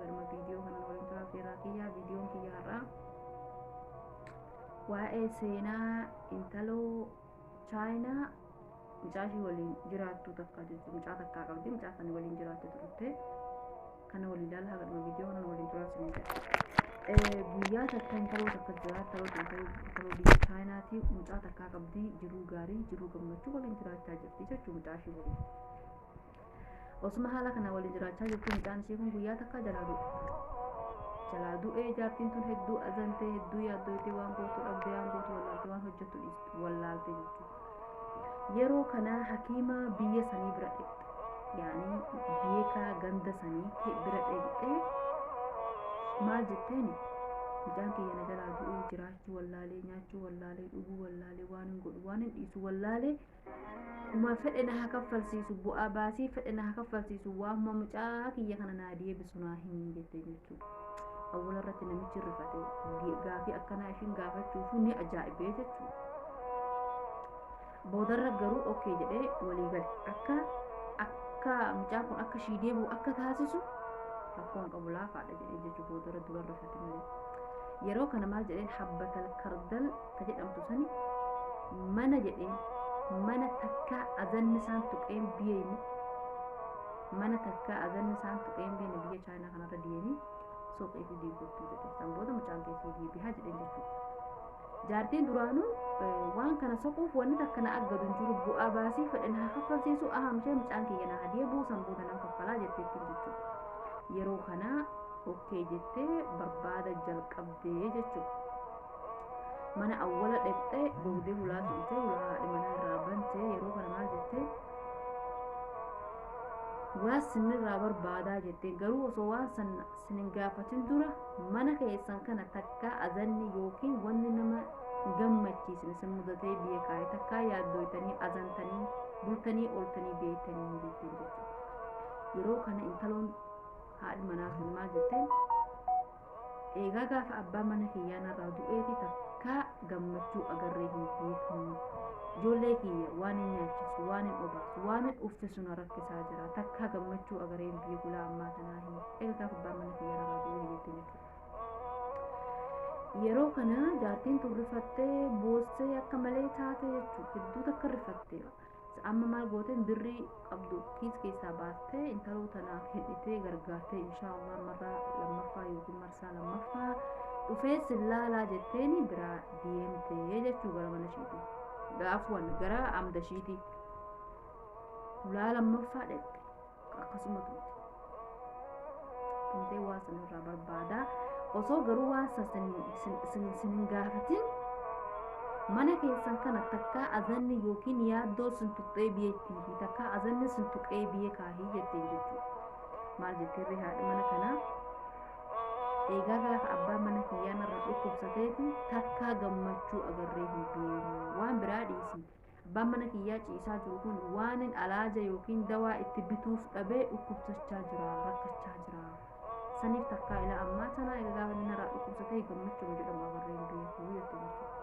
Galma viidiyoo kana waliin turaa feeraa kiyyaa viidiyoon kiyya har'aa waa'ee seenaa intaloo chaayinaa mucaa ishii waliin jiraattu takka jirti mucaa takkaa qabdi mucaa kana waliin jiraatte turte kana waliin ilaalaa galma viidiyoo kana waliin turaa sin jedha. guyyaa takka intaloo takka jira intaloo takka intaloo biyya chaayinaati mucaa takkaa qabdi jiruu gaarii jiruu gammachuu waliin jiraachaa jirti jechuu mucaa ishii waliin. Osuma haala kana walii jiraachaa jirtu mucaan ishee kun guyyaa takka jalaa du'e. Jalaa du'ee jaartiin tun hedduu azantee hedduu yaaddooytee waan gootu dhabdee waan gootu wallaaltee waan hojjettu dhiiste wallaalte jechuudha. Yeroo kanaa hakiima biyya sanii bira dhaqxe. Yaani beekaa ganda sanii ta'e bira dhaqxee maal jetteeni? Mucaan kiyya na jalaa du'ee jiraachuu wallaalee nyaachuu wallaalee dhuguu wallaalee waan hin godhu waan hin dhiisu wallaalee Uma fedhe na haa kaffalsiisu bu'aa baasii fedhe na haa kaffalsiisu waamuma mucaa kiyya kana naa deebisu naa himi jettee jechuudha. Awwala irratti namichi rifate gaafii akkanaa ishiin gaafachuufu ni ajaa'ibee jechuudha. Boodarra garuu okkee jedhee walii gale akka akka mucaan kun akka ishii deebi'u akka taasisu rakkoon qabu laafaadha jedhee jechuudha boodarra dura rifate malee. Yeroo kana maal jedheen habbatal kardal ta jedhamtu sani mana jedheen mana takkaa azanni isaan tuqeen biyeeni mana takkaa azanni isaan tuqeen biyeeni biyya chaayinaa kanarra deemee suuqii fi diigurtuu jedhe san booda mucaan keessii deebihaa jedheen jechuudha jaartiin duraanuu waan kana soquuf wanni takka na aggadu hin jiru bu'aa baasii fedhe na kaffalsiisu ahamshee mucaan kiyya na hadee buusan booda nan kaffalaa jetteettiin jechuudha yeroo kanaa okkee jettee barbaada jalqabdee jechuudha mana awwala dhaqxee boodee hulaa turtee hulaa haadha manaa irraa bantee yeroo kana maal jettee waan sinirraa barbaadaa jettee garuu osoo waan san sin hin gaafatin dura mana keessan kana takkaa azanni yookiin wanni nama gammachiisin isin mudatee biyya kaa'e takkaa yaaddooytanii azantanii bultanii ooltanii beektanii hin beektan jechuudha yeroo kana intaloon haadhi manaa sun maal jetteen Eegaa gaafa abbaan mana kiyyaa narraa du'eeti takkaa gammachuu agarree hin beeknu. Ijoollee kiyya waan hin nyaachisu, waan hin obaasu, waan hin uffisu na rakkisaa jira. Takkaa gammachuu agaree hin beeku laa ammaa tanaa hin. Egaa gaafa abbaan mana kiyyaa narraa du'ee jettee jechuudha. Yeroo kana jaartiin tun rifattee boossee akka malee taate jechuudha. Hedduu takka rifattee. Amma maal gooteen birrii qabdu kiis keessaa baastee intaloo tanaaf hidhitee gargaartee inshaallah marraa lammaffaa yookiin marsaa lammaffaa dhufee sillaalaa jetteen biraa deemtee jechuu gara mana ishiitii. Gaafuwan gara amda ishiitii. Ulaa lammaffaa dhaqxe. akkasuma tumte tumtee waa san irraa barbaada osoo garuu waan san sin- sin- sin- sin hin gaafatin mana keessan kana takkaa azanni yookiin yaaddoo sin tuqxee biyya ittiin fi takkaa azanni sin tuqee biyya kaahii jetteen jechuudha maal jetteerri haadha mana kanaa eegaa gaafa abbaan mana kiyyaa narra dhukkubsateeti takkaa gammachuu agarree hin beeknu waan biraa dhiisii Abbaan mana kiyyaa ciisaa jiru kun waanin alaaja yookiin dawaa itti bituuf dhabee dhukkubsachaa jira, rakkachaa jira. Saniif takkaa ilaa ammaa tanaa egaa gaafa inni narraa dhukkubsa ta'e gammachuun jedhamu agarree hin beeku jette jechuudha.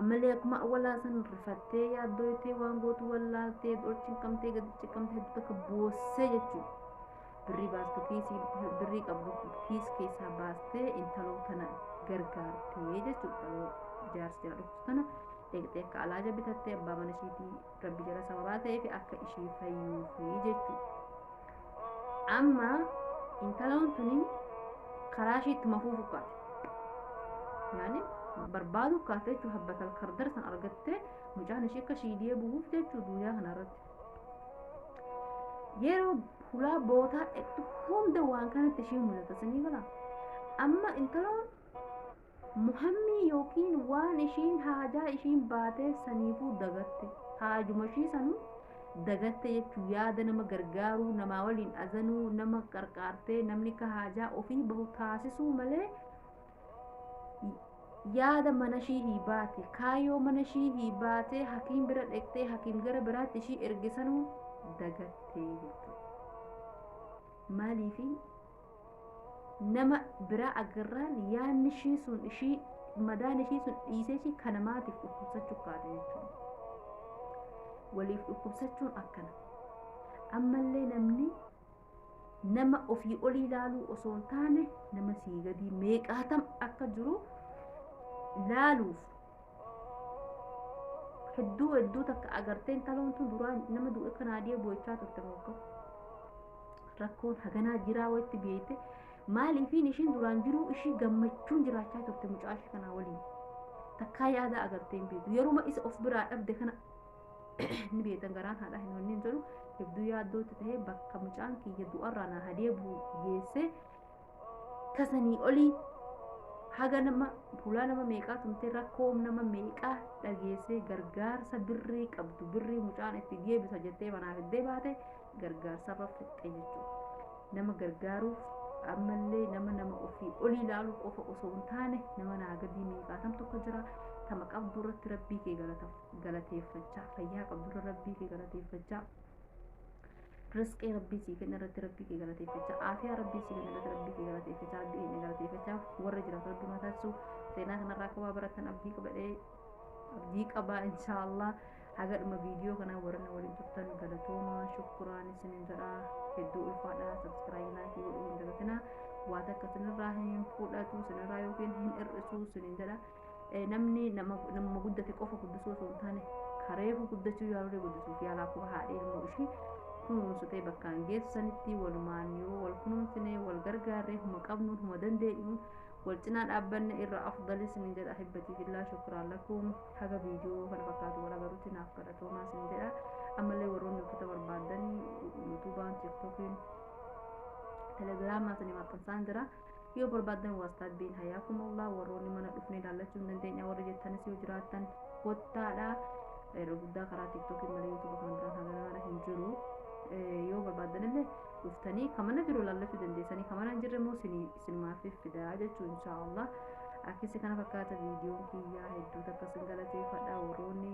Ammallee akkuma awwalaa san rifattee yaaddooytee waan gootu wallaaltee ol cinqamtee gadi cinqamtee hedduu takka boossee jechuudha. birrii baastu kiisii birrii qabdu kiis keessaa baastee intaloo tana gargaartee jechuudha yeroo jaarsi jala dhuftu tana deeqxee akka alaaja bitattee abbaa mana ishiitii rabbi jala sababaa ta'eef akka ishii fayyuufi jechuudha amma intaloon tuni karaa ishii itti mafuu fukkaate yaani barbaadu kaate jechuudha habbatal kardar san argattee mucaan ishii akka shiidiyee bu'uuf jechuudha duniyaa kanarratti yeroo hulaa bootaa dhaqxu hunda waan kanatti ishee mul'ata sanii gala amma intaloon muhammii yookiin waan ishiin haajaa ishiin baatee saniifuu dagatte haajuma ishii sanuu dagatte jechuun yaada nama gargaaruu namaa waliin azanuu nama qarqaartee namni ka haajaa ofii bahu taasisuu malee yaada mana ishii hii baate kaayoo mana ishii hii baatee hakiim bira dheqxee hakiim gara biraatti ishii ergisanuu dagattee jechuudha. Maaliifi nama biraa agarraan yaadni ishii sun ishii madaan ishii sun dhiisee ishii kana maatiif dhukkubsachuu kaate jechuudha. Waliif dhukkubsachuun akkana. Ammallee namni nama ofii olii laaluu osoo hin taane nama sii gadii meeqaatam akka jiru laaluuf hedduu hedduu takka agarteen taloon tun duraan nama du'e kan adee boo'ichaa turte mokko rakkoon haganaa jiraa walitti beeyte maaliifiin ishiin duraan jiruu ishii gammachuun jiraachaa turte mucaa ishii kanaa waliin takkaa yaada agarteen beektu yeruma isa of biraa dhabde kana ni beektan garaan haadhaa hin onneen jedhu hedduu yaaddootti ta'ee bakka mucaan kiyya du'arraa na hadee bu'u geessee tasanii olii haga nama fuulaa nama meeqaa tumtee rakkoo nama meeqaa dhageessee gargaarsa birrii qabdu birrii mucaan itti deebisa jettee manaa fiddee baate gargaarsarra fixxee jechuudha. Nama gargaaruuf ammallee nama nama ofii olii ilaaluu qofa osoo hin taane nama naa gadii meeqaatamtu akka jira tama qabdu irratti rabbii kee galatamu. galateeffachaa fayyaa qabdurra rabbii kee galateeffachaa risqii rabbii sii kenna irratti rabbii kee galateeffachaa aafiyaa rabbii sii kenna irratti rabbii kee galateeffachaa rabbii keenya galateeffachaa warra jiraatu rabbii mataa taasisu seenaa kanarraa akka waa baratan abdii qabadhee abdii qabaa inshaallah haga dhuma viidiyoo kanaa warra na waliin turtan galatoomaa shukkuraan isinin jedha hedduu ulfaadha sabskiraayii laayikii godhuu hin dagatinaa waa takka sinirraa hin fudhatu sinirraa yookiin hin hir'isu sinin jedha eh, namni nama namuma guddate qofa guddisuu osoo hin taane kareefu guddachuu yaaluree guddisuuf yaala akkuma haadhee ilmoo ishii kunuunsitee bakkaan geessu sanitti walumaan yoo wal kunuunsinee wal gargaarree huma qabnuun huma dandeenyuun wal cinaa dhaabbanne irra afdali sinin jedha ahibbatii fillaa shukraan lakum haga viidiyoo kana fakkaatu wal agarutti naaf kadhatoomaa sin jedha ammallee warroonni uffata barbaaddan yuutuubaan tiktookiin telegiraamaa sanii maxxansaan jira yoo barbaaddan waastaat biin hayaakumullah warroonni mana dhufnee ilaallachuu hin dandeenya warri jettanis yoo jiraattan kottaadha irra guddaa karaa tiktookiin malee yuutuuba kan biraa kan garaagaraa hin jiru yoo barbaaddan illee dhuftanii kan mana jiru ilaallachuu dandeessanii kan mana hin jirre immoo sinumaaf fidaa jechuu inshaallah akkasi kana fakkaata viidiyoon kiyyaa hedduu takka sin galateeffadha warroonni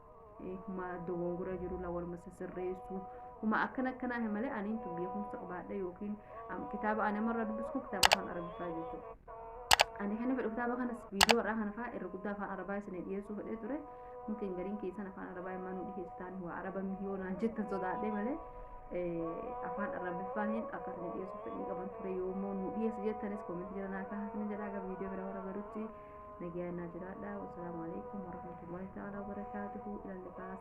huma dogongora jirula waluma sisirreessu huma akkana akkanaa hin malee aniin tun beekumsa qabaadha yookiin am- kitaaba ani amarraa dubbisku kitaaba afaan arabiffaa jechuudha. Ani kan fedhu kitaaba kanas viidiyoo irraa kana fa'aa irra guddaa afaan arabaa isin dhiyeessuu fedhee ture. Mungkin gariin keessan afaan arabaa immoo nu dhiyeessitaan waa araba mihiyoo naan jettan sodaadhee malee eh, afaan arabiffaa hin akka isin dhiyeessuuf fedhii qaban ture yoommoo nu dhiyeessi jettanis koomentii jala naa kaasni jedhaa gara viidiyoo bira warra garutti Nagayaan naa jiraadha. Wasalaamu alaikum warahmatullahi ta'ala wabarakaatuhu. Ilaalli baas.